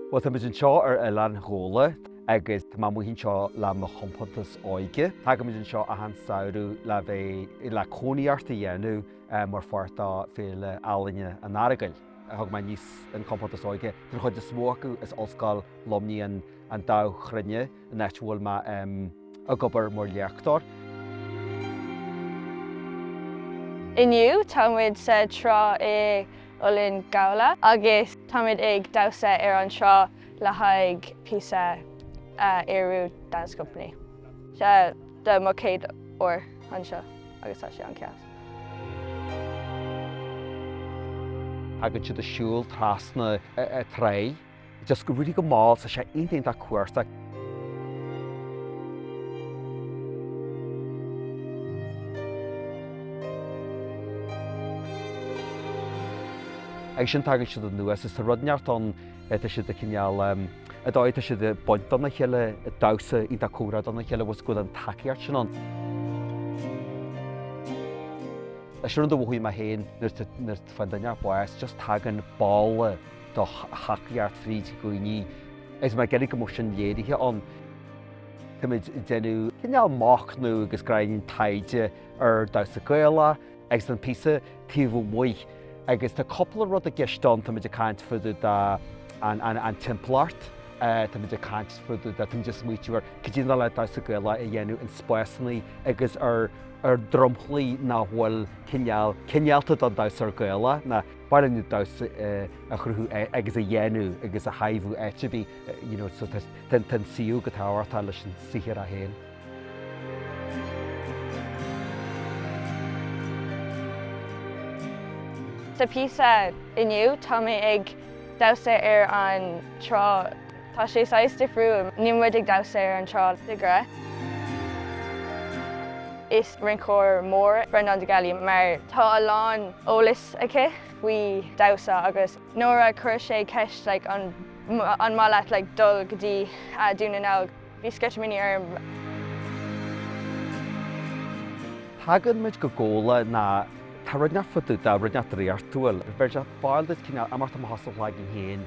Bhuel, táimid anseo ar oileán Ghabhla agus tá mé istigh anseo le mo chompántas óige. Tagaimid anseo achan samhradh le bheith, le cónaitheacht a dhéanamh mar pháirt de Féile Ealaíne an Earagail. Thug mé aníos an chompántas óige, tá an chuid is mó acu as Ollscoil Luimnigh, an Dámh Chruinne. an áit a bhfuil mé ag obair mar léachtóir. Inniu tá muid sa trá in Oileán Ghabhla agus táimid ag damhsa ar an trá le haghaidh píosa a Ériú Dance Company. Seo é mo chéad uair anseo agus tá sé an-deas. Tagann siad ag siúl trasna na tráighe. Just go raibh go mall sa 'sé aon t-aon-tá cuarta. Agus sin tagann siad anuas is tá rud ínteacht ann tá siad ag cineál an dóigh tá siad ag baint dona chéile ag damhsa aon-tá comhrá dona chéile bhfuil bhfuil an tacaíocht sin ann. Leis an rud a mhothaím mé féin nuair a fhaigheann duine bás just tagann ball do thacaíocht fríd i gcónaí agus mé ag iarraidh go mbeadh sin léirithe ann. Táimid ag déanamh cineál machnaimh agus gráinín taighde ar damhsa Gaelach agus an píosa taobh amuigh agus tá cúpla rud i gceist ann, táimid ag caint fá dtaobh den timpeallacht, táimid ag caint fá dtaobh de, táimid ag smaoitiú ar caidé an dóigh le damhsa Gaelach a dhéanamh in spásanna agus ar dromchlaí nach bhfuil cineálta don damhsóir Gaelach. ballet nó damhsa a chruthú agus a dhéanamh agus a thaibhiú áit ar bith you know so tá an suíomh comhthábhachtach leis an saothar é héin. Sa phíosa inniu tá mé ag damhsa ar an trá. Tá sé saghas difriúil. Níl muid ag damhsa ar an trá de ghnáth. Is rinceoir mór Breandán de Gallaí mar tá a lán eolas aici faoi damhsa agus nuair a chuir sé ceist like an maith leat like dul go dtí Dún na nGall bhí sceitimíní orm. Tagann muid go Gabhla nó tá rud ínteacht fá dtaobh de, rud ínteacht draíochtúil. Bheir sé faill duit cineál imeacht amach as do chloigeann féin.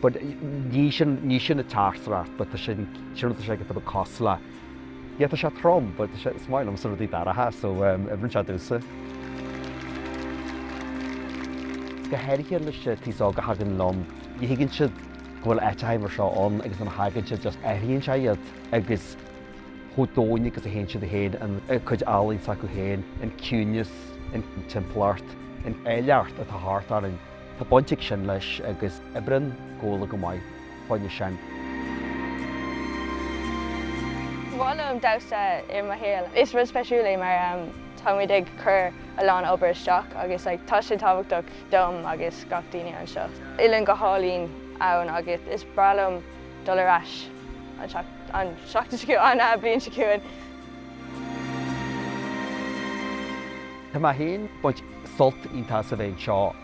But, ní sin, ní sin an teachtaireacht, but, tá sé, sin rud atá sé ag atá cosla. Yeah, tá sé trom, but, tá sé, is maith liomsa rudaí dorcha, so, um, oibríonn sé domhsa. Go háirithe leis an t-aos óg a thagann liom, ní thuigeann siad go bhfuil áiteacha mar seo ann agus nuair a thagann siad just athraíonn sé iad agus chomh domhain agus a théann siad féin, an chuid ealaíne s'acu féin, an ciúineas, an timpeallacht, an áilleacht atá thart orainn. Tá baint ag sin leis agus oibríonn Gabhla go maith fá choinne sin. Ba mhaith liom damhsa i mo shaol. Is rud speisiúil é mar táimid ag cur a lán obair isteach agus like tá sé tábhachtach dom agus gach daoine anseo. Oileán go hálainn ann agus is breá liom dul ar ais an seacht an seachtain seo an bliain seo chugainn. Tá mé féin ag baint sult iontach as a bheith anseo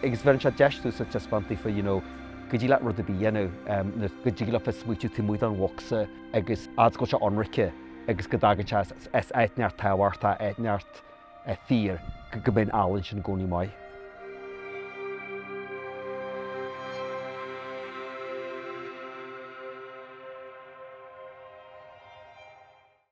agus bheireann sé deis domhsa taispeáint daofa you know go dtig leat rud ar bith a dhéanamh em nó go dtig leat bheith ag smaoitiú taobh amuigh don bhocsa agus fhad is go bhfuil sé ionraice agus go dtagann sé as as áit inteacht tábhachtach áit inteacht eh fíor go go mbeidh an ealaín sin i gcónaí maith.